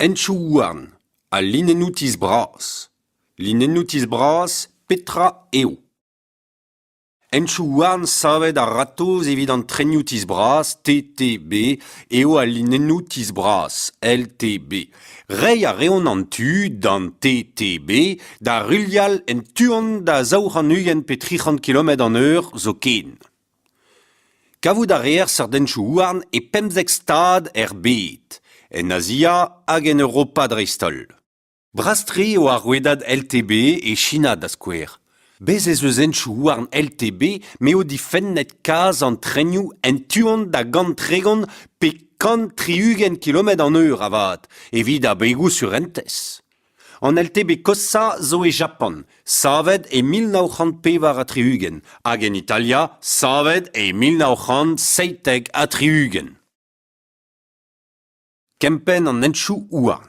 Henchoù-houarn ha linennoù-tizh bras. Linennoù-tizh bras, petra eo? Henchoù-houarn savet a-ratozh evit an trenioù-tizh bras TTB eo al linennoù-tizh bras LTB. Reiñ a reont an tu d'an TTB da ruilhal en tu-hont da zaou c'hant ugent pe tri c'hant kilometr an eur zoken. Kavout a reer sardenchoù-houarn e pemzek stad er bed, en Azia hag en Europa dreist-holl. Bras-tre eo ar rouedad LTB e China da skouer. Bez' ez eus henchoù-houarn LTB m'eo difennet kaz an trenioù en tu-hont da gant-tregont pe kant tri-ugent kilometr an eur avat, evit abegoù surentez. An LTB koshhañ zo e Japan, savet e mil nav c'hant pevar ha tri-ugent, hag en Italia, savet e mil nav c'hant seitek ha tri-ugent. Kempenn an henchoù-houarn.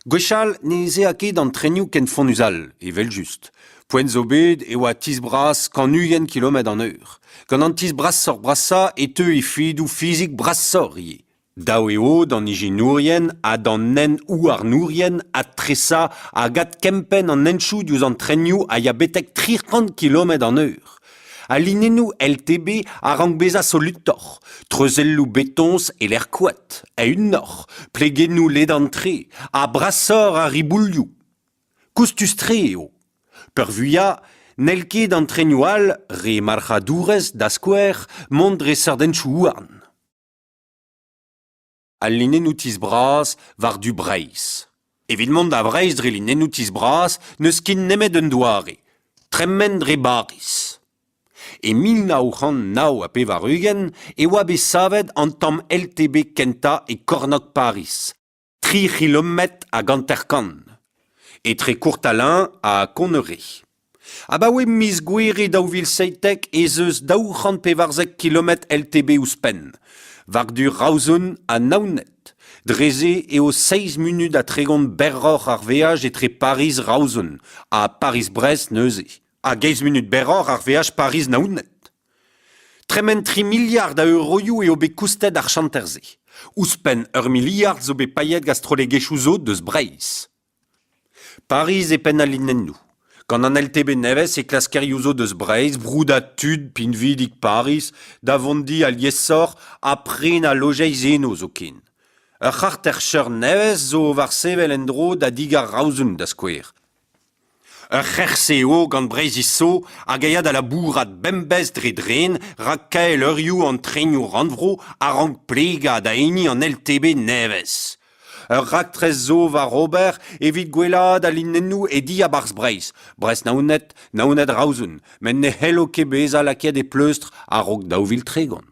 Gwechall ne eze'a ket an trenioù ken fonnus all, evel-just. Poent zo bet e oa tizh bras kant-ugent kilometr an eur. Gant an tizh brasoc'h-brasañ e teu efedoù fizik brasoc'h ivez. Dav eo d'an ijinourien ha d'an hent-houarnourien adtresañ hag adkempenn an henchoù diouzh an trenioù a ya betek tri c'hant kilometr an eur. Al linennoù LTB a rank bezañ solutoc'h, treuzelloù betoñs e-lec'h koad, eeunoc'h, plegennoù ledan-tre ha brasoc'h a riboulioù. Koustus-tre eo. Peurvuiañ, n'hell ket an trenioù all, re marc'hadourezh da skouer, mont dre seurt henchoù-houarn. Al linennoù-tizh bras war-du Breizh. Evit mont da Vreizh dre linennoù-tizh bras n'eus ket nemet un doare tremen dre Bariz. E mil nav c'hant nav ha pevar-ugent e oa bet savet an tamm LTB kentañ e kornôg Pariz tri c'hilometr hag hanter-kant, etre Courtalin ha Conneret. Abaoe miz Gouere daou vil seitek ez eus daou c'hant pevarzek kilometr LTB ouzhpenn, war-du Raouzun ha Naoned. Dre-se eo seizh munut ha tregont berroc'h ar veaj etre Pariz-Raouzun ha Pariz-Brest neuze, hag eizh munut berroc'h ar veaj Pariz-Naoned. Tremen tri miliard a euroioù eo bet koustet ar chanter-se. Ouzhpenn ur miliard zo bet paeet gant strollegezhioù zo deus Breizh. Pariz e penn al linennoù. Gant an LTB nevez e klaskerioù zo deus Breizh broudañ tud pinvidik Pariz da vont di aliesoc'h ha prenañ lojeiz eno zoken. Ur c'harter-cheur nevez zo war sevel en-dro da di Garaozun da skouer. Ur c'herc'h-se eo gant Breizhiz Zo hag a ya da labourat bemdez dre dren rak kaelleurioù an trenioù rannvro a rank plegañ da hini an LTB nevez. Ur raktres zo war ober evit gwellaat al linennoù e diabarzh Breizh, Brest-Naoned, Naoned-Raozun, met ne c'hello ket bezañ lakaet e pleustr a-raok daou vil tregont.